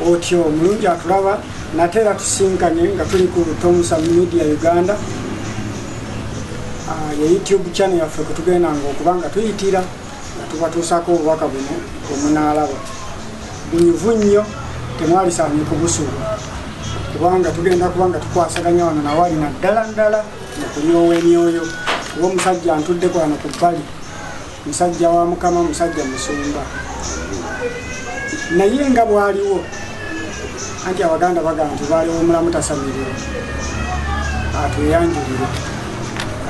otyo omulungi atulaba nate era tusinkanye nga tuli ku tomusa media uganda ah, ye youtube channel yaffe kwetugenda nga okuba nga tuyitira nga tubatuusako obubaka buno bwemunaalaba bunyuvu nnyo temwalisaanye kubusuuba kubanga tugenda kuba nga tukwasaganya wano nawali naddala ddala mukulyowa emyoyo kuba omusajja ntudde kwano ku bbali Musajja wa Mukama, musajja musumba, naye nga bwaliwo anti abaganda bagamba nti baliwo mulamu tasamirira atweyanjulire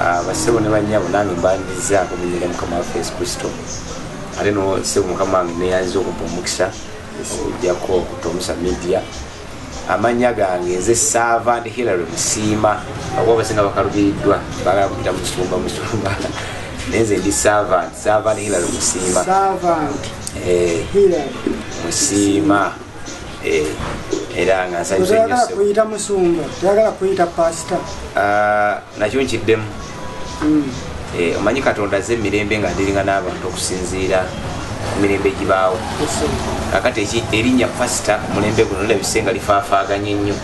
ah, basebo ne banyabo nange mbandizaako munyere mukama waffe yesu kristo ate no sebo mukama wange neyanziza okumpa omukisa okujjako okutomusa media amannya gange nze servant hillary musiima akuba abasinga bakalubiridwa bagala kuyita musumba musumba naye nze ndi servant servant hillary musiima eh, musiima eh, era nga nsanyusa nnyo nakyo nkiddemu eh, omanyi katonda aze emirembe nga ndiringa n'abantu okusinziira ku mirembe egibaawo akati erinnya pasita omulembe guno labise nga lifaafaaganye ennyo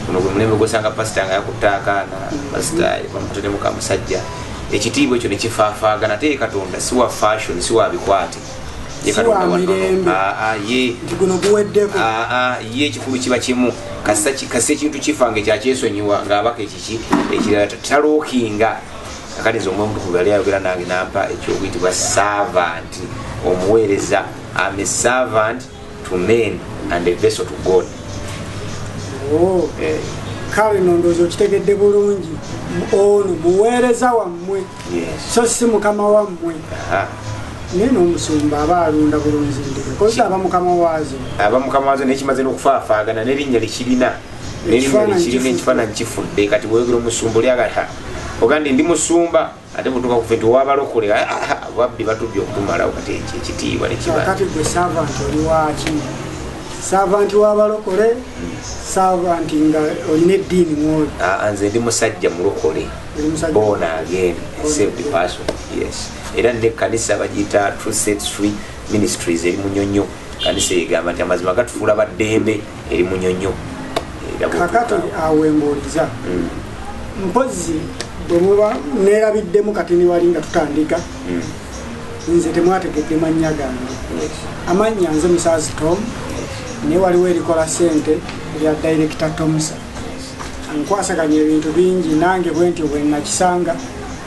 guno gwe mulembe gwosanga pasita nga yakutte akaana pasita bamuteremu ka musajja ekitiibwa ekyo nekifaafaaga nate ye katonda si wa fashion si wa bikwate ye ekikulu kiba kimu kasisa ekintu kifa nga ekyakyesonyiwa ngaabaka ekirala taluukinga akati nze omwemutukuvu yali ayogera nange nampa ekyokuyitibwa servant omuweereza am a servant to men and a vessel to god oh. eh. kale nondoozi okitegedde bulungi ono muweereza wammwe so si mukama wammwe naye nomusumba aba alunda bulunzi nti kozesa aba mukama waazo aba mukama waazo naye kimaze n'okufaafaagana n'erinnya likirina kirina ekifaananyi kifudde kati bweyogera omusumba oli agata ogandi ndi musumba ate butuka kufe nti wabalokole ah, ah, ah, babbi batubye okutumalawo kati ekyo ekitiibwa nekibakati gwe savanti oli waki savanti wabalokole savanti nga olina eddiini mwoli nze ndi musajja mulokole bona again saved person yes era nekkanisa bagiyita true set street ministries eri munyonyo kanisa egamba nti amazima gatufuula baddembe eri munyonyo kakati awo embuuliza mm. mpozi bwemuba nerabiddemu kati niwali nga tutandika mm. nze temwategedde mannya gange amannya nze musazi tom naye waliwo erikola sente erya director tomsa nkwasaganya ebintu bingi nange bwenti bwenakisanga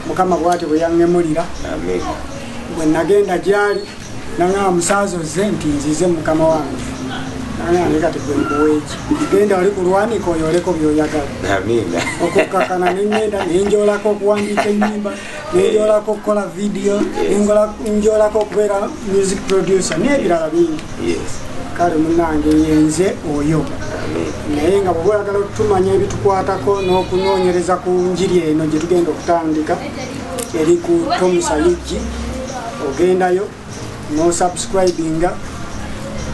mukama bwati bweyaŋemulira bwenagenda gyali nangamba musanze ozze nti nzize mukama wange nangamba naye kati gwe nkuweeki genda oli kulwanika oyoleko byoyagala okukkakana nengenda nenjolako okuwandiika enyimba nenjolako okukola vidiyo nenjolako okubeera music producer nebirala bingi kale munange yenze oyo naye nga bwoba oyagala okutumanya ebitukwatako n'okunoonyereza ku njiri eno gyetugenda okutandika eri ku Tom Sayiggi ogendayo n'osubscribinga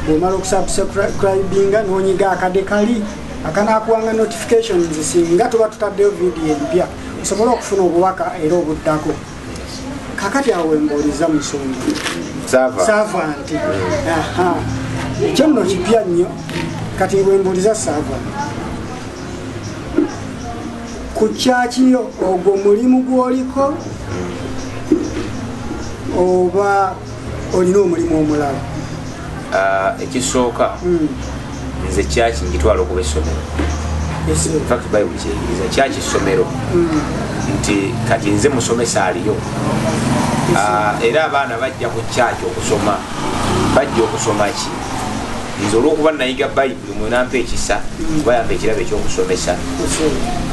bw'omala okusubscribinga n'onyiga akade kali akanakuwanga notifications singa tuba tutaddeyo vidiyo empya osobole okufuna obubaka era obuddako kakati awo wembuuliza musumba saava nti ekyo nno kipya nnyo kati wembuuliza saava ku kyaki yo ogwo mulimu gwoliko oba olina omulimu omulala ah, ekisooka hmm. nze kyaki ngitwala okuba essomero infact bayibuli kyeyigiriza kyaki ssomero hmm. nti kati nze musomesa aliyo ah, era abaana bajja ku kyaki okusoma bajja okusoma ki nze olwokuba nayiga bayibuli mwe nampa ekisa kuba yampa ekirabo ekyokusomesa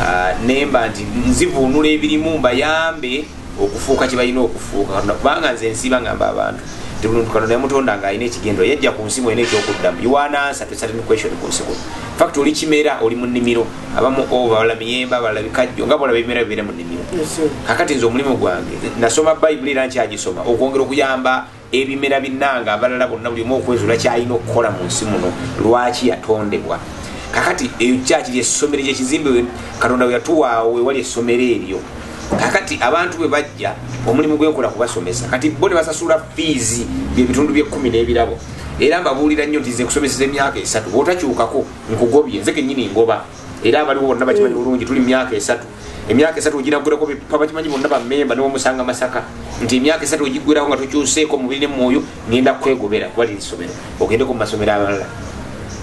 ah, nemba nti nzivuunula ebirimu mbayambe okufuuka kyebalina okufuuka katonda kubanga nze nsiiba ngamba abantu tibuluntu katonda yamutonda nga alina ekigendero yajja ku nsi mwena ekyokuddamu iwanansa tesatin question ku nsi kuno fakt oli kimera oli mu nnimiro abamu ova oh, bala miyemba bala bikajjo nga bolaba ebimera bibeera mu nnimiro kakati nze omulimu gwange nasoma bayibuli era nkyagisoma okwongera okuyamba ebimera binange abalala bonna buli omu okwezula kyalina okukola mu nsi muno lwaki yatondebwa kakati eyo kyaki lyessomero kyekizimbe katonda weyatuwaawo wewali essomero eryo kakati abantu bwe bajja omulimu gwenkola kubasomesa kati bo ne basasula fiizi byebitundu byekumi n'ebirabo era mbabuulira nnyo nti nze kusomeseza emyaka esatu bwotakyukako nkugobye nze kenyini ngoba era abaliwo bonna bakimanyi eh. bulungi tuli mumyaka esatu emyaka esatu ogiragulako bakimanyi bonna bamemba niwomusanga masaka nti emyaka esatu ogigwirako nga tukyuseeko mubiri ne mwoyo ngenda kwegobera kuba liri somero ogendeko mu masomero abalala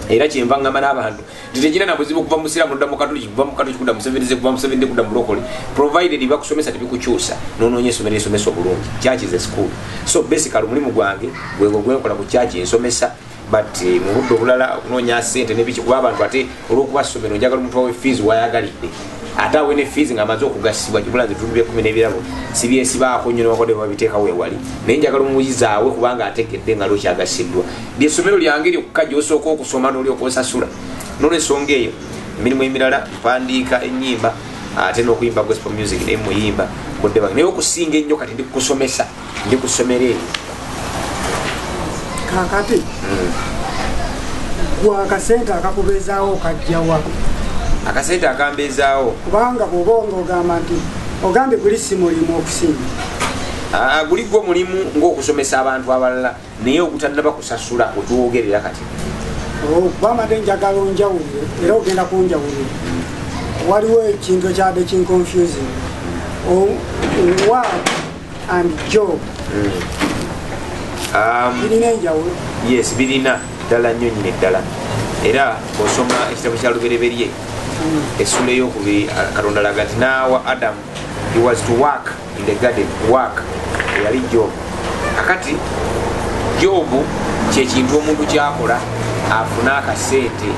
era kyenva ngamba n'abantu nti tegina na buzibu kuva musiraamu nodda mukatuliki kuva mukatuliki kudda musevenize kuva musevenize kudda mulokole provided bakusomesa tebikukyusa nononya esomero esomesa obulungi church is a school so basically omulimu gwange gwegwo gwenkola ku church ensomesa but eh, mu budde obulala okunoonya sente nebiki kuba abantu ate olwokuba somero njagala omuntu wawe fees wayagalidde ate awe ne fees ngaamaze okugasibwa kibula nze bitundu byekumi n'ebirabo sibyesibaako nyo newakode babiteeka wewali naye njagala omuyizaawe kubanga ategedde nga lokyagasiddwa lyesomero lyange lyokka gyosooka okusoma nolyoka osasula nolwensonga eyo emirimu emirala mpandiika enyimba ate nokuyimba gospel music naye muyimba budde bange naye okusinga ennyo kati ndi kukusomesa ndi ku ssomero eri kakati gwe akasente akakubeezaawo okajjawa akasente akambeezaawo kubanga bwoba nga ogamba nti ogambye guli si mulimu okusinga ah, guli gwo mulimu ng'okusomesa abantu abalala naye ogutannaba kusasula wetwogerera kati gwamade njagala onjawulire era ogenda kunjawulira waliwo ekintu ekyabadde kinconfusing word and job um, birina enjawulo yes birina ddala nnyo nyina eddala era osoma ekitabo kya lubereberye mm. essula eyokubiri katonda laga nti naawa adamu he was to work in the garden work eyali job akati job kyekintu omuntu kyakola afune akasente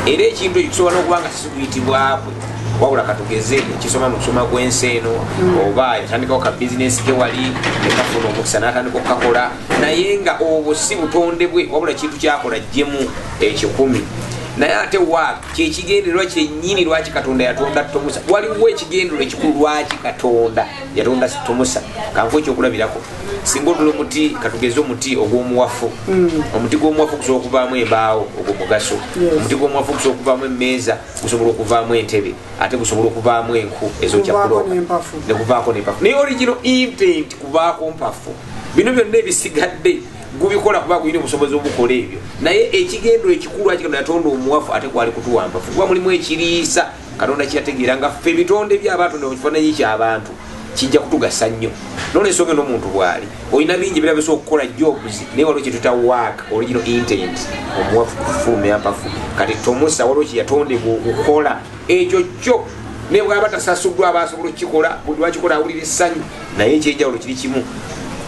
era ekintu ekyo kisobola nokuba nga sikuyitibwakwe wabula katugeze ekisoma mu kusoma gwensi eno hmm. oba yatandikawo ka bizinesi ke wali nekafuna omukisa natandika okukakola naye nga obwo si butondebwe wabula kintu kyakola jjemu ekikumi naye ate waaka kyekigendererwa kyenyini lwaki katonda yatonda tomusa waliwo ekigendererwa ekikulu lwaki katonda yatonda tomusa kanku ekyokulabirako singa otula omuti katugeze omuti ogwomuwafu mm. omuti gwomuwafu okusobola okuvaamu embaawo ogwo mugaso omuti gwomuwafu okusobola okuvaamu emeeza gusobola okuvaamu entebe ate gusobola okuvaamu enku ezokyakulooka nekuvaako nempafu naye origino intent kuvaako mpafu bino byonna ebisigadde gubikola kuba gulina obusobozi obukola ebyo naye ekigendero ekikulu akigenda yatonda omuwafu ate gwali kutuwampafu kuba mulimu ekiriisa katonda kyategeera nga ffe ebitonde byabantu nekifananyi kyabantu kijja kutugasa nnyo nolwensonga nomuntu bwali olina bingi birabisa okukola jobs naye waliwo kyetuta wak original intent omuwafu kufulumya mpafu kati tomusa waliwo kyeyatondebwa okukola ekyo kyo nebwaba tasasuddwa aba asobola okukikola buli wakikola awulira essanyu naye ekyenjawulo kiri kimu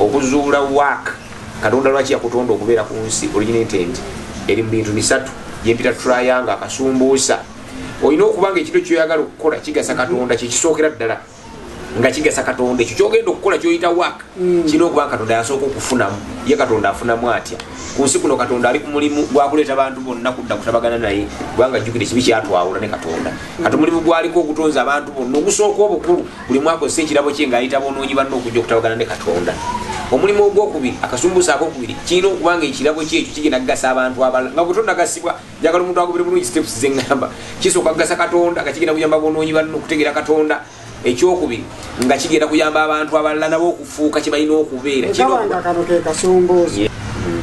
okuzuula wak katonda lwaki yakutonda okubeera ku nsi original intent eri mu bintu bisatu gyempita triangle akasumbuusa olina okuba nga ekintu kyoyagala okukola kigasa katonda kyekisookera ddala nga kigasa katonda ekyo kyogenda okukola kyoyita wak mm. kirina okuba nga katonda yasooka okufunamu ye katonda afunamu atya ku nsi kuno katonda ali ku mulimu gwakuleeta bantu bonna kudda kutabagana naye kubanga jjukira ekibi kyatwawula ne katonda kati omulimu gwaliko okutonza abantu bonna ogusooka obukulu buli mwaka ozesa ekirabo kye ng'ayita bonoonyi banne okujja okutabagana ne katonda omulimu ogwokubiri akasumbusa akokubiri kirina okuba nga ekirabo kyekyo kigenda kugasa abantu abalala nga bwetonnagasibwa njagala omuntu agobere bulungi steps zeŋŋamba kisooka kugasa katonda nga kigenda kuyamba bonoonyi banne okutegeera katonda ekyokubiri nga kigenda kuyamba abantu abalala nabo okufuuka kye balina okubeera kibanga kano ke kasumbuusa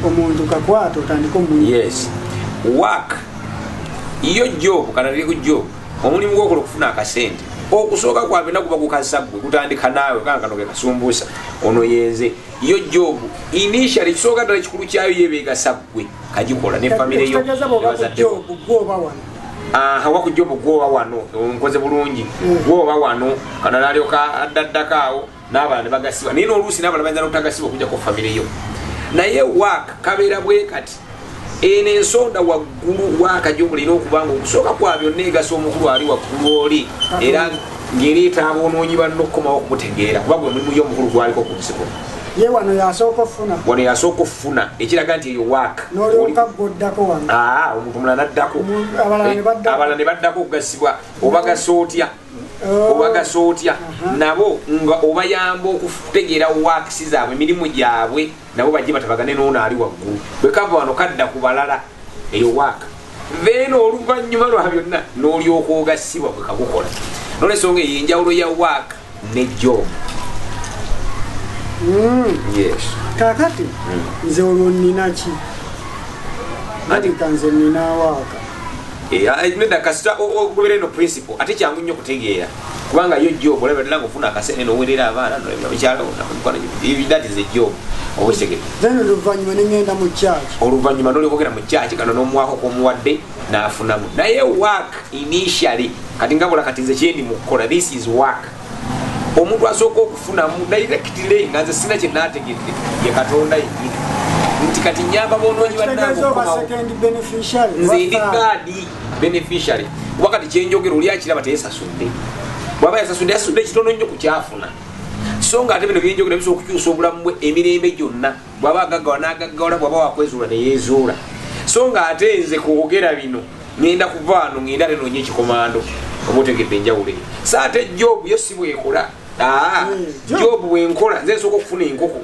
omuntu kakwata otandika omu yes wak yo jobu kanatiri ku jobu omulimu gwokola okufuna akasente okusooka kwabina kuba kukazaggwe kutandika naawe kankano ke kasumbuusa ono yenze yo jobu initial ekisooka ddala ekikulu kyayo yebeegasa ggwe kagikola ne famire yo wakujobu gwoba wano nkoze bulungi hmm. gwoba wano kanalaalyoka addaddako awo n'abalala ne bagasibwa naye n'oluusi n'abalala bayinza n'obutagasibwa okujjako famire yo naye waaka kabeera bwe kati eno ensonda waggulu waaka gyobulina okuba nga okusooka kwa byonna egasa omukulu ali waggulu oli era ng'ereeta aboonoonyi banno okukomawo okumutegeera kuba gwe mulimu yo omukulu gwaliko ku nsigo ye wano yasooka okufuna wano yasooka okufuna ekiraga nti eyo waaka nolyoka gwoddako wano omuntu mulala naddako abalala ne baddako okugasibwa obagasa otya oh. obagasa otya uh-huh. nabo nga obayamba okutegeera wakisi zaabwe emirimu gyabwe nabo bajje batabagane noono ali waggulu bwekava wano kadda ku balala eyo waaka then oluvannyuma lwa byonna n'olyoka ogasibwa bwekagukola nolwensonga eyo enjawulo ya waaka ne jobu hmm. yes kakati hmm. nze olwo nina ki ati kanze nina waaka Eh, ah, eh, nedda kasita ogobera eno principle ate kyangu nnyo okutegeera kubanga yo job olaba dala ngaofuna akasente nowerera abaana noekyalawonakwanathat is a job oluvannyuma nengenda mu kyaki oluvannyuma nolikogera mu kyaki kano nomwako komuwadde nafunamu naye work initially kati ngabula kati nze kyendi mukukola this is work omuntu asooka okufunamu directly nga nze sina kyenategedde ye katonda yenyini nti kati nyamba bonoonyi bannangenze ndi gaadi beneficiary kuba kati kyenjogera oli akiraba teyesasudde bwaba yasasudde yasudde ekitono nnyo ku kyafuna so nga ate bino byenjogera bisobola okukyusa obulamu bwe emirembe gyonna bwaba agaggawa nagaggawala bwaba wakwezuula neyezuula so nga ate nze kwogera bino ngenda kuvaano ngenda ate nonya ekikomando oba otegedde enjawulo eyo sa ate jobu yo si bwekola aa hmm, jobu bwenkola nze nsooka okufuna enkoko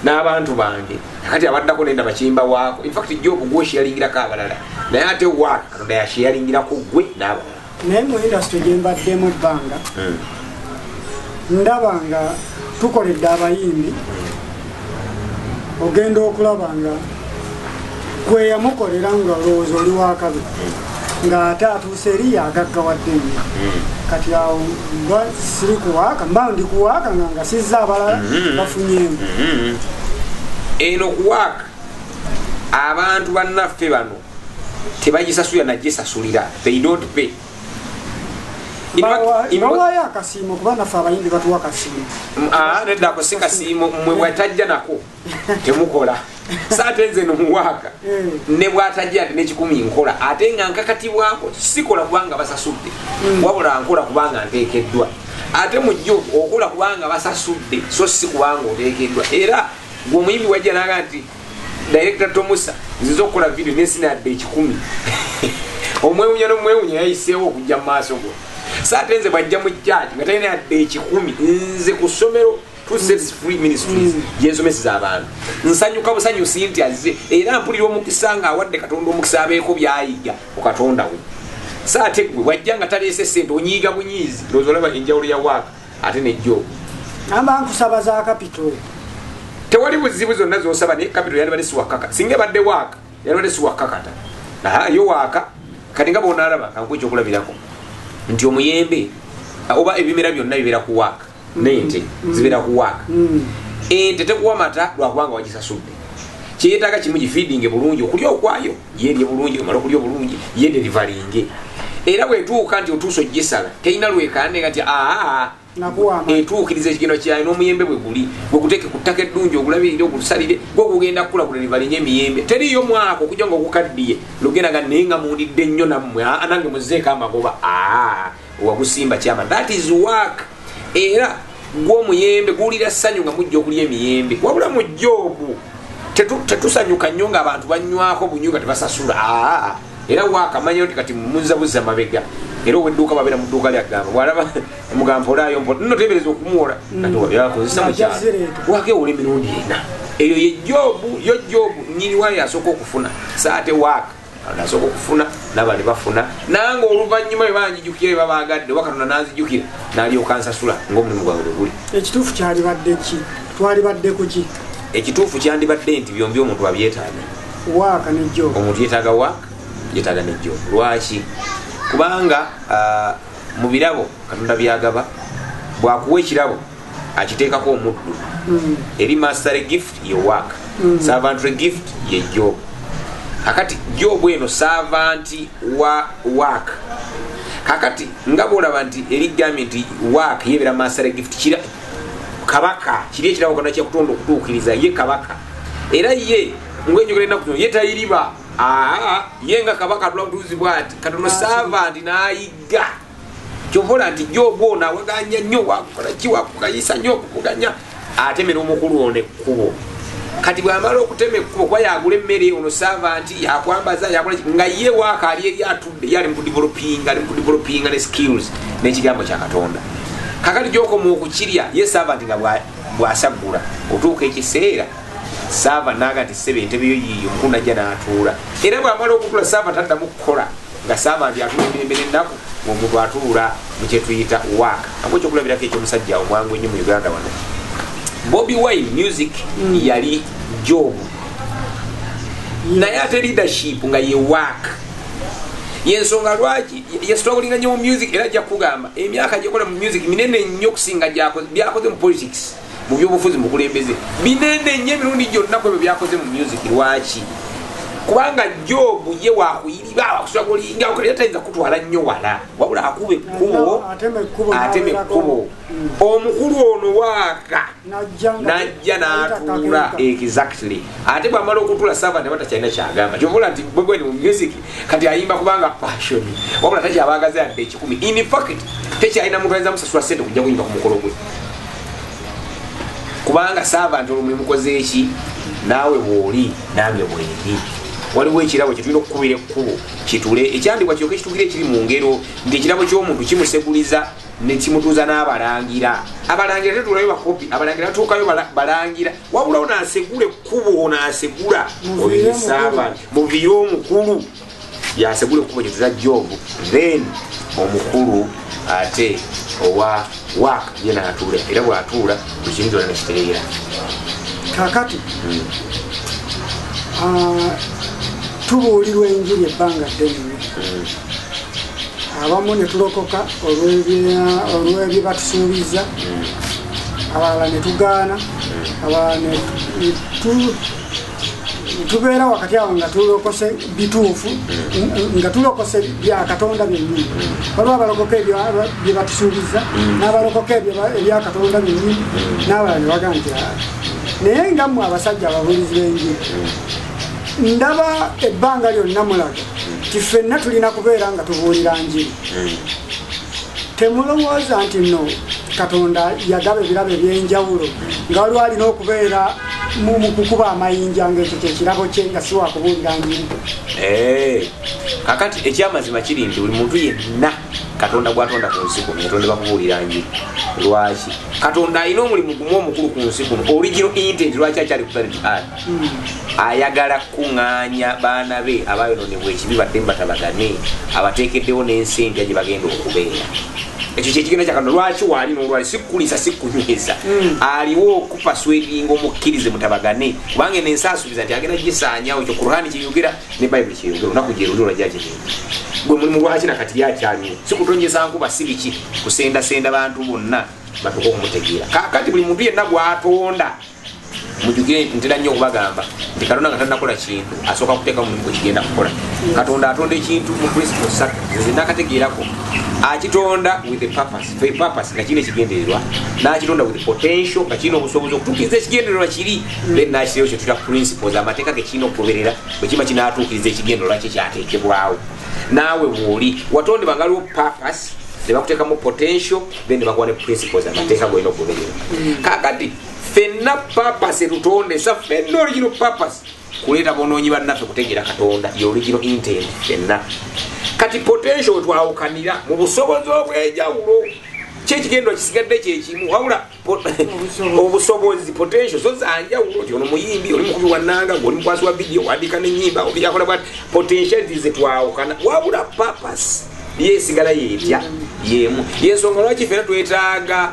n'abantu bange kati abaddako nenda bakimba waako infact jobu gwosheyalingira ko abalala naye ate wa katonda yasheyalingirako gwe n'abalala naye mu industry gyembaddemu ebbanga eh. ndaba nga tukoledde abayimbi ogenda okulaba nga kweyamukolera nga olowooza oli wakabi ng'ate atuuse eri yagaggawadde nnyo hmm. kati awo mba siri kuwaaka mba ndi kuwaaka nga ngasizza abalala hmm. bafunyemu hmm. eno kuwaaka abantu bannaffe bano tebagisasulira nagisasulira they don't pay bawayo akasiimo kuba naffe abayimbi batuwa kasiimo mm, ah, nedako si kasiimo mwe bwatajja nako temukola saate nze nomuwaaka eh. ne bwatajja nti nekikumi nkola ate nga nkakatibwako sikola kubanga basasudde mm. wabula nkola kubanga nteekeddwa ate mujjo okola kubanga basasudde so si kubanga oteekeddwa era gwe omuyimbi wajja naga nti director tomusa nziza okukola video nesinadde ekikumi omwewunya nomwewunya yayiseewo okujja mu maaso go saate nze bwajja mu jaji nga talina yadde ekikumi nze ku ssomero gyensomeseza mm. abantu nsanyuka busanyusi nti azze era mpulira omukisa nga awadde katonda omukisa abeeko byayiga ku katonda we saate gwe wajja nga taleese sente onyiiga bunyiizi ndoozi olaba enjawulo ya waaka ate nejjo namba nkusaba za kapito tewali buzibu zonna zosaba naye kapito yalibadde siwakaka singa ebadde waaka yalibadde siwakakata yo waaka kati nga bonalaba kankuwa ekyokulabirako nti omuyembe oba ebimera byonna bibeera ku waaka nente mm. zibeera ku waaka mm. ente tekuwa mata lwakubanga wagisasudde kyeyetaaga kimu gifeedinge bulungi okulya okwayo yelye bulungi omala okulya obulungi yederivalinge era bwetuuka nti otuusa ogisala terina lwekande nga nti aa etuukiriza ekigendo kyayo n'omuyembe bwe guli gwekuteeke ku ttaka eddungi ogulabirire ogusalire gwe ogugenda kukula gulerivalinge emiyembe teriyo mwaka okuja nga ogukaddiye lugenda nga naye nga mundidde nnyo nammwe nange muzeeko amagoba aa wagusimba kyama that is work era gwo omuyembe guwulira ssanyu nga mujja okulya emiyembe wabula mujja ogwo tetusanyuka nnyo nga abantu banywako bunyo nga tebasasula aa era wakamanya nti kati muzabuza mabega era owedduuka babeera mu dduuka lyagamba bwalaba mugamba olaayo mpo no tebereza okumuwola katiwayakozesa mm. mukyalo wakewola emirundi ena eyo ye jobu yo jobu nyini wayo asooka okufuna saate waaka nasoka okufuna nabali bafuna nange oluvanyuma ebanjijukira ebabagadde oba katonda nanzijukira nalyoka nsasula ngaomulimu gwange bweguli ekituufu kyalibadde ki twalibadde kuki ekituufu kyandibadde nti byombi omuntu abyetaaga waaka nejjo omuntu yetaaga waaka yetaaga nejjo lwaki kubanga ah, mu birabo katonda byagaba bwakuwa ekirabo akiteekako omuddu mm. eri mastery gift ye work mm. servantry gift ye job kakati job eno servanti wa work kakati nga bwolaba nti erigambye nti work yebeera mastery gift kira kabaka kiri ekirabo kona kyakutonda okutuukiriza ye kabaka era ye ngaenjogera enaku zino ye tayiriba ye nga kabaka atula butuuzi bwati katono servanti n'ayigga kyovola nti jobu ono awaganya nnyo wakukola ki wakukayisa nnyo okuvuganya atemera omukulu ono ekkubo kati bwamala okutema ekkubo kuba yagula emmere ono saava nti yakwambaza yakola nga ye waaka ali eri atudde ye ali mukudivelopinga ali mukudivelopinga ne skills n'ekigambo kya katonda kakati gyokoma okukirya ye saava nti nga bwasaggula otuuka ekiseera saava naaga nti sebe entebeyo yiiyo mukulu najja n'atuula era bwamala okutula saava taddamu kukola nga saama ndi atula emirembe n'ennaku ng'omuntu atuula mu kyetuyita wak amu ekyokulabirako ekyomusajja omwangu ennyo mu uganda wano bobi wine music mm. yali jobu naye ate leadership nga ye wak yensonga lwaki yesitwabulinga nnyo mu music era ajja kukugamba emyaka gyekola mu music minene nnyo okusinga byakoze mu politics mu byobufuzi mubukulembeze binene nyo emirundi gyonna kwebyo byakoze mu music lwaki kubanga jobu ye wakuyiriba wakusula kulinga okalera tayinza kutwala nnyo wala wabula akuba ekkubo atema ekkubo mm. omukulu ono waaka najja natuula exactly ate bwamala okutuula sava ne batakyalina kyagamba kyobola nti bwegwendi mu music kati ayimba kubanga passion wabula takyabagaza yadde ekikumi in fact tekyalina muntu ayinza musasula sente okujja kuyimba ku mukolo gwe kubanga saava nti olumuli mukoze eki naawe bwoli nange bwendi waliwo ekirabo kyetulina okukubira ekkubo kitule ekyandibwa kyoka ekitugira ekiri mu ngero nti ekirabo ky'omuntu kimuseguliza nekimutuuza n'abalangira abalangira tetulayo bakopi abalangira batuukayo balangira wabulawo nasegula ekkubo nasegula oyo esaava muviire omukulu yasegula ekkubo kyeza jobu then omukulu ate owa wak ye natuula era bwatuula buli kintu kyona nekitereera kakati hmm. ah, tubuulirwa enjiri ebbanga ddene hmm. abamu netulokoka olwebye batusuubiza hmm. abalala netugaana abalala tubeera wakati awo nga tulokose bituufu nga tulokose byakatonda byenyini waliwo abalokoka byebatusuubiza nabalokoka ebyakatonda byenyini nabalala nebagantira ah. naye nga mwe abasajja ababulizi benjiri ndaba ebbanga lyonna mulaga ti fenna tulina kubeera nga tubuulira njiri temulowooza nti no katonda yagaba ebirabo ebyenjawulo nga waliwo alina okubeera mu mu kukuba amayinja ng'ekyo kye kirabo kye nga si wakubuulira njiri Eh, kakati ekyamazima kiri nti buli muntu yenna katonda gwatonda ku nsi kuno yatondeba kubuulira njiri lwaki katonda alina omulimu gumu omukulu ku nsi kuno origino intent lwaki akyali kutanit ad ayagala kukuŋŋaanya baana be abayonoonebwa ekibi badde mu batabagane abateekeddewo n'ensi empya gye bagenda okubeera ekyo kyekigenda kya katonda lwaki waali n'olwali sikkulisa sikkunyweza aliwo oku- kupaswedinga omukkirize mutabagane kubanga eno ensi asuubiza nti agenda gisaanyawo ekyo kurhani kyeyogera ne bayibuli kyeyogera olunaku gyerulira gyagirina gwe mulimu lwaki nakati lyakyaliwo si kutonyeza nkuba si biki kusendasenda bantu bonna batuka okumutegeera kakati buli muntu yenna gwatonda mujugire nti ntera nnyo okubagamba nti katonda nga tanakola kintu asooka kuteeka mulimu gwe kigenda kukola katonda atonda ekintu mu principle satu zenakategeerako akitonda with a purpose for a purpose nga kirina ekigendererwa n'akitonda with potential nga kirina obusobozi okutuukiriza ekigendererwa kiri then n'akiseewo kye tuta principles amateeka ge kirina okugoberera bwe kiba kinaatuukiriza ekigendererwa kye kyateekebwawo naawe bw'oli watondebwa nga liwo purpose ne bakuteekamu potential then ne bakuwa ne principles amateeka golina okugoberera mm. kakati fenna purpose etutonde sa fenna original purpose kuleeta bonoonyi bannaffe kutegeera katonda yoligiro inten fenna kati potential wetwawukanira mu busobozi obw'enjawulo kyekigendo kisigadde kyekimu wabula obusobozi potential zo zanjawulo nti ono muyimbi oli mukubi wananga oli mukwasi wa vidiyo wandika nenyimba obiyakola bwati potentiality zetwawukana wabula papas yesigala yetya yemu yensonga lwaki fena twetaaga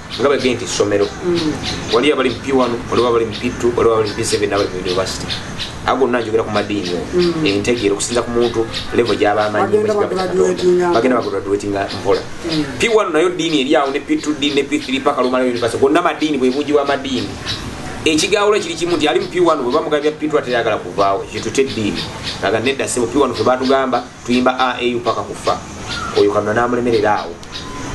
nga bagee nti essomero waliyo abali mupi wano waliwo abali mupitu waliwo abali mupi seven abali mu univesity a gonna njogera ku madiini o mm. entegeera okusinza ku muntu levo gyaba amanyibagenda bagraduatinga mpola mm. pi wano nayo diini eri awo ne pi two diini ne pi three paka lumala univesity gonna madiini bwe bungi bwa madiini ekigawulo kiri kimu nti ali mu piwano bwe bamugabya pitu ateyagala kuvaawo kitute eddiini aga nedda sebo piwano fe batugamba tuyimba aau paka kufa oyo kamuna namulemerera awo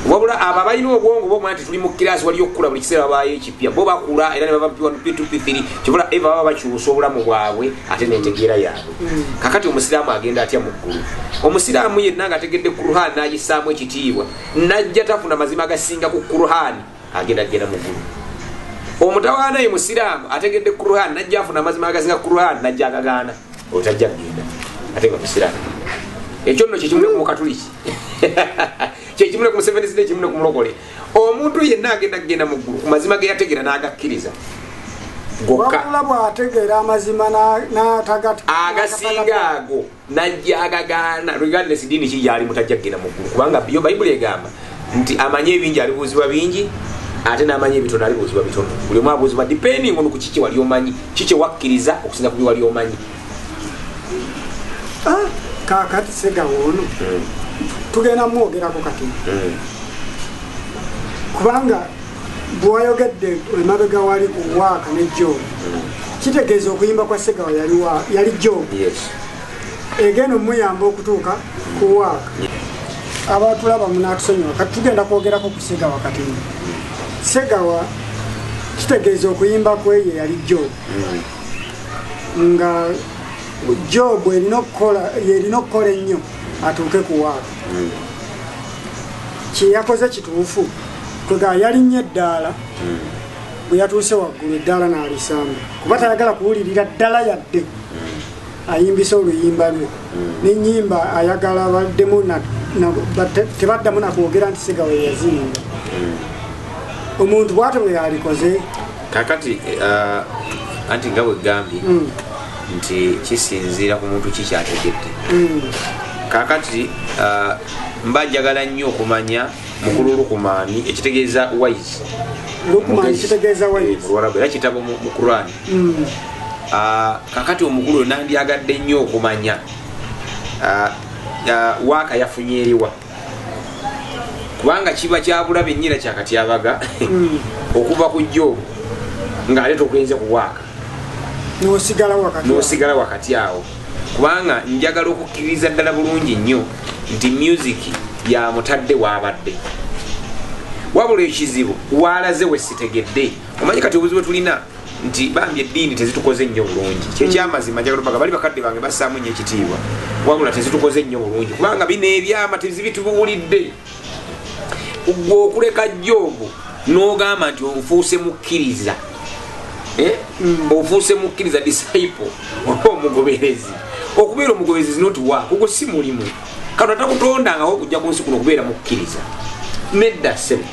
wabula abo abalina obwongo bomanya nti tuli mu kiraasi waliyo okukula buli kiseera babaayo ekipya bo bakula era ne bava p1 p2 p3 kibula eva baba bakyusa obulamu bwabwe ate nentegeera yaabwe kakati omusiraamu agenda atya mu ggulu omusiraamu yenna nga ategedde kuruhan n'agissaamu ekitiibwa najja tafuna mazima agasinga ku kuruhani agenda kugenda mu ggulu omutawaana ye musiraamu ategedde kuruhan najja afuna amazima agasinga kuruhan najja agagaana otajja kugenda ate nga musiraamu ekyo nno kyekimule ku mukatuliki kyekimule ku museveni sida ekimule ku mulokole omuntu yenna agenda kugenda mu ggulu ku mazima ge yategeera n'agakkiriza gokka agasinga ago najja agagaana regardless diini ki gyalimu tajja kugenda mu ggulu kubanga yo bayibuli egamba nti amanyi ebingi alibuuzibwa bingi ate n'amanyi ebitono alibuuzibwa bitono buli omu abuuzibwa depending on ku kiki wali omanyi ki kye wakkiriza okusinza ku bye wali omanyi ah, kakati segawo ono hmm. tugenda mwogerako kati hmm. kubanga bwewayogedde emabega wali ku waaka ne job kitegeeza okuyimba kwa segawa yali job egenda omuyamba okutuuka ku waaka abatulaba munatusonyiwa kati tugenda kwogerako ku segawa kati segawa kitegeeza okuyimba kweye yali job nga job erina okukola yerina okukola ennyo atuuke ku waaka kyeyakoze kituufu kwega yalinnye eddaala hmm. bwe yatuuse waggulu eddaala n'alisamba kuba tayagala kuwulirira ddala yadde hmm. ayimbisa oluyimba lwe hmm. nenyimba ayagala baddemu tebaddamu nakwogera nti sigawe yaziyimba omuntu bwate bwe yalikoze kakati uh, anti nga bwegambye nti kisinziira ku muntu kikyategedde kakati uh, mba njagala nnyo okumanya mukulu lukumani ekitegeeza wise luwarabu era kitabo mu quran hmm. ah, kakati omukulu oyo nandyagadde nnyo okumanya ah, ah, waaka yafunye eriwa kubanga kiba kyabula benyina kyakatyabaga hmm. okuva ku jjo ng'ate togenze ku waaka nosigala wakati awo kubanga njagala okukkiririza ddala bulungi nnyo nti music yamutadde waabadde wabula ekizibu waalaze we sitegedde omanyi kati obuzibu tulina nti bambi eddiini tezitukoze nnyo bulungi kyekyamazima njagala opaga bali bakadde bange bassaamu nnyo ekitiibwa wabula tezitukoze nnyo bulungi kubanga bino ebyama tezibitubuulidde gwe okuleka jobu nogamba nti ofuuse mukkiriza eh? mm. ofuuse mukkiriza disciple oba omugoberezi okubeera omugoberezi zinoti wa kugo si mulimu kano takutondangawo okujja ku nsi kuno okubeera mukkiriza nedda semu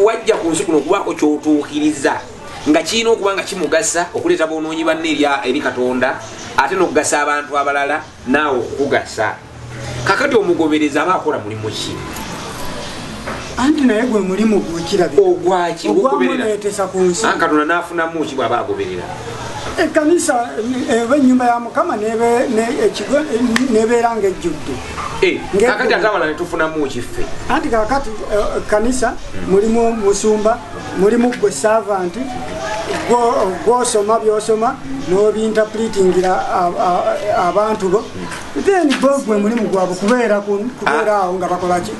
wajja ku nsi kuno okubaako kyotuukiriza nga kirina okuba nga kimugasa okuleeta bonoonyi banne eri katonda ate nokugasa abantu abalala naawe okukugasa kakati omugoberezi aba akola mulimu ki anti naye gwe mulimu gwekirabi ogwaki ogwamuleetesa ku nsi katonda n'afunamu ki bw'aba agoberera ekkanisa eba eh, ennyumba ya mukama nebeera nga ejjudde eh, kakati ate abala netufunamu kiffe anti kakati eh, ekkanisa mulimu musumba mulimu gwe saavanti gwosoma byosoma n'obintapulitingira abantu bo then bo gwe mulimu gwabwe kubeera kubeera ah. awo nga bakolaki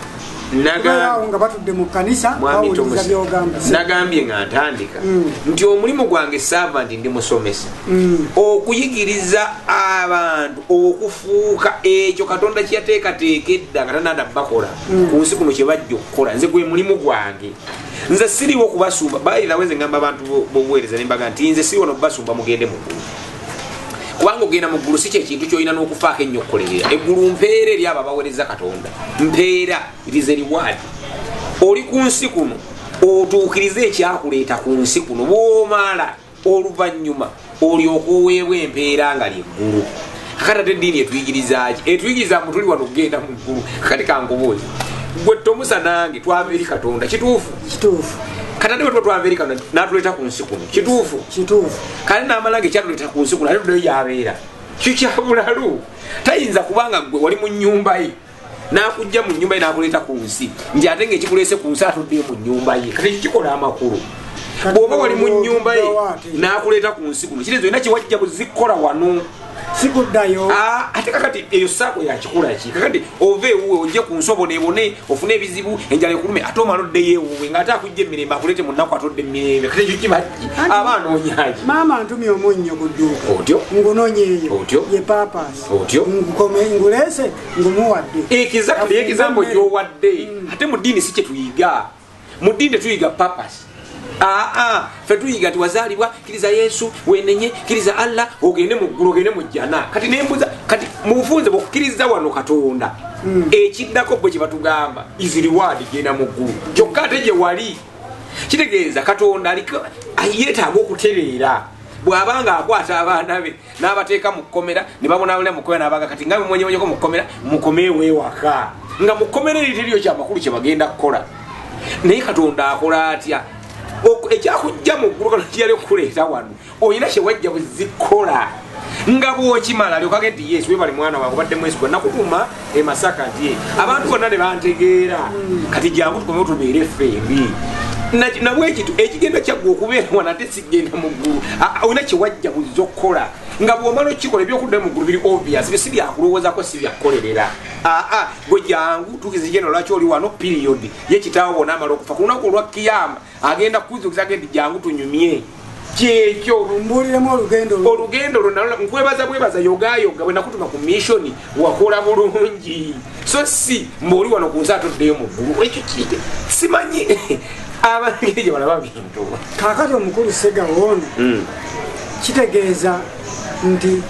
nga batudde mu kanisa bawuliriza byogamba nagambye nga ntandika mm. nti omulimu gwange saava nti ndi musomesa mm. okuyigiriza abantu okufuuka ekyo katonda kyeyateekateeka edda nga tanada bakola mm. ku nsi kuno kyebajja okukola nze gwe mulimu gwange nze siriwo kubasumba bayirawo nze ngamba abantu bobuweereza nembaga nti nze siriwo nobubasumba mugende mukulu kubanga ogenda mu ggulu si kyekintu kyolina n'okufaako ennyo okukolerera eggulu mpeera eri abo abawereza katonda mpeera irize riwaadi oli ku nsi kuno otuukirize ekyakuleeta ku nsi kuno bwomaala oluvannyuma olyoka oweebwa empeera nga lyeggulu kakati ate eddiini etuyigirizaaki etuyigiriza mu tuli wano okugenda mu ggulu kakati kankubuuzi gwe tomusa nange twava eri katonda kituufu kituufu kati ate bwe tuba twava eri katonda n'atuleeta ku nsi kuno kituufu kituufu kale namala nga ekyatuleta ku nsi kulale tudeyo yabeera kyo kyabulalu tayinza kubanga gwe wali mu nyumba ye nakujja mu nyumba ye nakuleeta ku nsi nti ate nga ekikuleese ku nsi atuddeyo mu nyumba ye kati kikikola amakulu bwoba wali mu nyumba ye nakuleeta ku nsi kuno kiri zolina kyewajja buzikkola wano sikuddayo ah, ate kakati eyo saako yakikola ki kakati ova ewuwe ojje ku nsobo nebone ofune ebizibu enjala ekulume ate omala oddeyo ewuwe ngaate akujja emirembe akulete munaku atodde emirembe kati ekyo kibaki aba anoonyaki maama ntumye omunnyo ku dduuka otyo ngunonyeeyo otyo ye papas otyo ngukome nguleese ngumuwadde ekizakle ekizambo gyowadde mm. ate mu ddiini si kyetuyiga mu ddiini tetuyiga papas aa fe tuyiga ti wazaalibwa kiriza yesu wenenye kiriza allah ogende mu ggulu ogende mu jjana kati nembuza kati mu bufunze bwokukiriza wano katonda hmm. ekiddako bwe kyebatugamba is reward genda mu ggulu kyokka ate gye wali kitegeeza katonda aliko yeetaaga okutereera bw'aba nga akwata abaana be n'abateeka mu kkomera ne babonaabona mu kkomera n'abaga kati nga bemwenyewonyeko mu kkomera mukomeewo ewaka nga mu kkomera eri teriyo kyamakulu kye bagenda kukola naye katonda akola atya ekyakujja mu ggulu kano kiyali okukuleeta wano olina kye wajja buzikola nga bwokimala lyokagenti yesu webali mwana wange obadde mwesigwa nakutuma e masaka nti abantu bonna ne bantegeera kati jangu tukomewo tubeere ffembi nabwekitu ekigenda kyaggwa okubeera wana ate sigenda mu ggulu olina kyewajja buzza okukola nga bwomala okikola ebyokudda mu ggulu biri obvious bisi byakulowozako si byakukolerera aa gwe jangu tukize genda lwaki oli wano period ye kitaawo bona amala okufa ku lunaku olwa kiyama agenda kukuzukiza ge nti jangu tunyumye kyekyo mbuuliremu olugendo olugendo olwo nalo nkwebaza bwebaza yogayoga bwe nakutuma ku missioni wakola bulungi so si mbuoli wano ku nsi atoddeyo mu ggulu ekyo kite simanyi abangeri gye balaba bintu kakati omukulu segawoono hmm. kitegeeza nti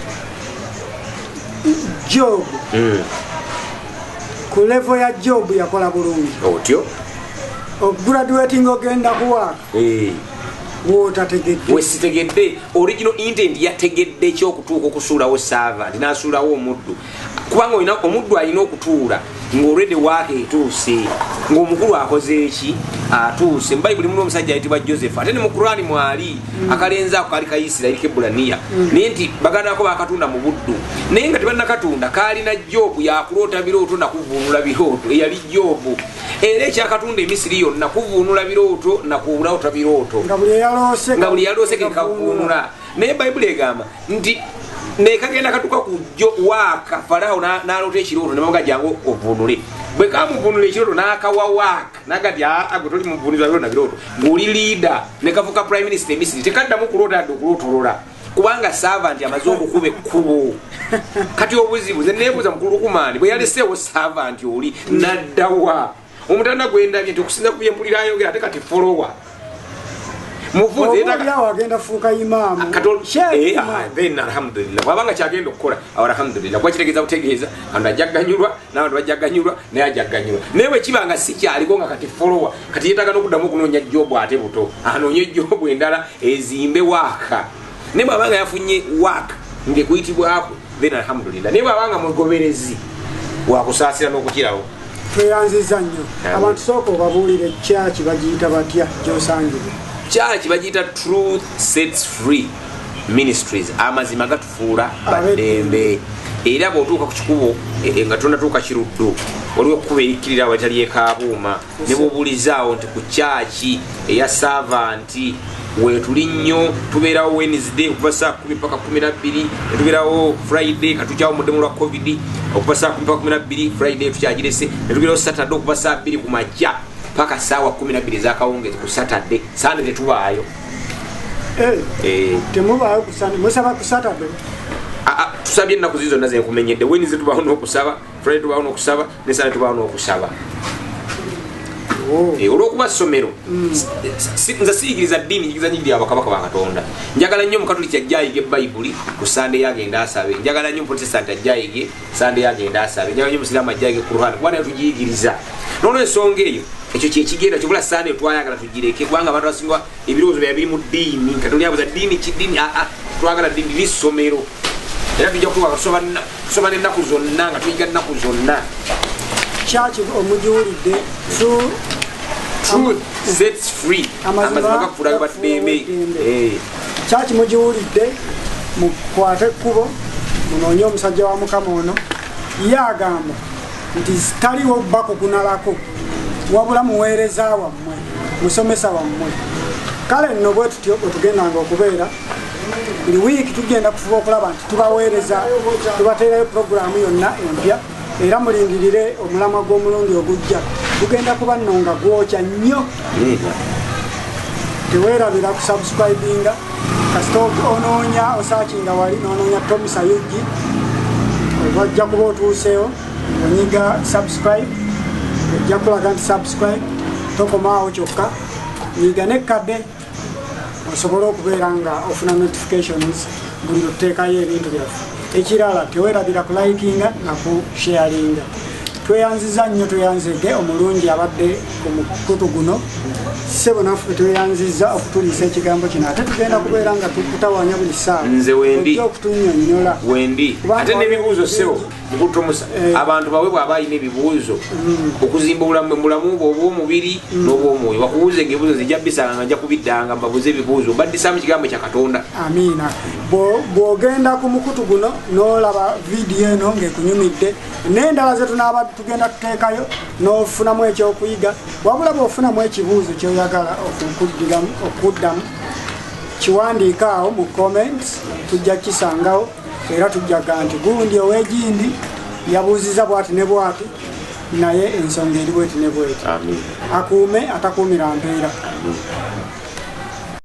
jobu hmm. ku levo ya job yakola bulungi otyo okugraduating ogenda kuwaaka eh. wesitegedde original intent yategedde ekyokutuuka okusuulawo saava nti nasuulawo omuddu kubanga olina omuddu alina okutuula ngaolwedde waaka etuuse ngaomukulu akoze eki atuuse mubayibuli muna omusajja ayitibwa joseph ate ne mu kurani mwali mm. akalenzi ako kaali kaisirairi kebulaniya mm. naye nti baganda bako bakatunda mu buddu naye nga tebanakatunda kaalina jobu yakuloota birooto nakuvuunula birooto eyali jobu era ekyakatunda emisiri yonna kuvuunula birooto nakuloota birooto nga buli yaloose kekavuunula naye bayibuli egamba nti naye kagenda katuka ku jo waaka falawo naloota ekirooto nebaga jangu ovuunule bwe kamuvunula ekirooto n'akawa waaka nagati aa gwe toli muvunizwa byona birooto ng'oli liida ne kafuka prime minister emisiri tekaddamu kuloota yadde okulootolola kubanga savanti amaze okukuba ekkubo kati obuzibu ze neebuuza mukulu lukumaani bwe yaleseewo savanti oli naddawa omutanda gwendabye nti okusinza ku byempulira ayogera ate kati folowa muvuze yetaga awo agenda fuuka imaamu kato shehe ah then alhamdulillah wabanga kyagenda okukola awo alhamdulillah kwa kitegeza kutegeza ando ajaganyulwa nawe ndo ajaganyulwa naye ajaganyulwa naye bwe kiba nga si kyaliko nga kati follower kati yetaga n'okuddamu okunoonya jobu ate buto anoonye jobu endala ezimbe waaka naye bwaba nga yafunye wak ngekuyitibwakwe then alhamdulillah naye bwaba nga mugoberezi wakusaasira n'okukirawo tweyanziza nnyo abantu sooka obabuulire kyaki bagiyita batya gyosangibwa kyaki bagiyita truth sets free ministries amazima gatufuula baddembe era bw'otuuka ku kikubo e, e, nga tonatuuka kiruddu waliwo ekkubo erikkirira awatali ekaabuuma ne bwobulizaawo nti ku kyaki eya saavanti wetuli nnyo tubeerawo wednesday okuva saa kumi paka kumi nabbiri netubeerawo friday katukyawo muddemu lwa covid okuva saa kumi paka kumi nabbiri friday tukyagirese netubeerawo saturday okuva saa bbiri ku majja paka saawa kumi nabbiri ezakawungezi ku saturday sande tetubaayo eh, eh. temubaayo musaba ku saturday ah, ah, tusabye ennaku zi zonna zenkumenyedde wednesday tubaawo nokusaba friday tubaawo nokusaba nesana tubaa nokusaba oh. eh, olwokuba somero mm. nze siyigiriza ddiini njigiriza nyigi lyabakabaka bakatonda njagala nnyo omukatuliki ajja ayige bayibuli ku sande yagenda asabe njagala nnyo omuprotestanti ajja ayige sande yagenda asabe njagala nyo omusiraamu ajja ayige kuruhan kuba naye tugiyigiriza nolwensonga eyo ekyo kyekigenda kyobula sande twayagala tugireke kubanga abantu basinga ebirowoozo bya biri mu ddiini nga toli abuza ddiini ki ddiini aa ah, ah, twagala ddiini liri ssomero era tujja kutuwa tusoma n'ennaku zonna nga tuyiga nnaku zonna kyaki omugiwulidde truth sets free amazima gakufuula ge baddembe eh. kyaki mugiwulidde mukwate ekkubo munoonye omusajja wa mukama ono ye agamba nti taliwo bakugunalako wabula muweereza wamu musomesa wammwe kale nno bwe tutyo otugendanga okubeera buli wiiki tugenda kufuba okulaba nti tubaweereza tubateerayo puroguraamu yonna empya era mulindirire omulamwa gw'omulundi ogujja gugenda kuba nno nga gwokya nnyo teweerabira kusubscribinga kasita onoonya osaakinga wali n'onoonya tomusayujji wajja kuba otuuseewo onyiga subscribe ojja kulaga nti subscribe tokomaawo kyokka nyiga nekkadde osobole okubeera nga ofuna notifications buli luteekayo ebintu byaffe ekirala tewerabira kulikinga nakusharinga tweyanziza nnyo tweyanzege omulungi abadde ku mukutu guno sebo naffe tweyanziza okutuliisa ekigambo kino ate tugenda kubeera nga tukutawanya buli ssaawa nze wendi okutunyonyola wendi ate nebibuuzo sebo mukutumusa eh. abantu bawe bwaba alina ebibuuzo mm. okuzimba obulamu mulamu bwe obwomubiri mm. n'obwomwoyo bakubuuze nga ebibuzo nzija bisanga nga nja kubiddanga mbabuuze ebibuuzo mbaddisamu kigambo kya katonda amiina bw'ogenda ku mukutu guno n'olaba vidiyo eno ng'ekunyumidde n'endala ze tunaaba tugenda tuteekayo n'ofunamu ekyokuyiga wabula bw'ofunamu ekibuuzo kyoyagala okuddamu kiwandiikaawo mu comments tujja kisangawo era tujjaga nti gundi ow'egindi yabuuziza bwati ne bwati naye ensonga eri bweti ne bweti akuume atakuumira mpeera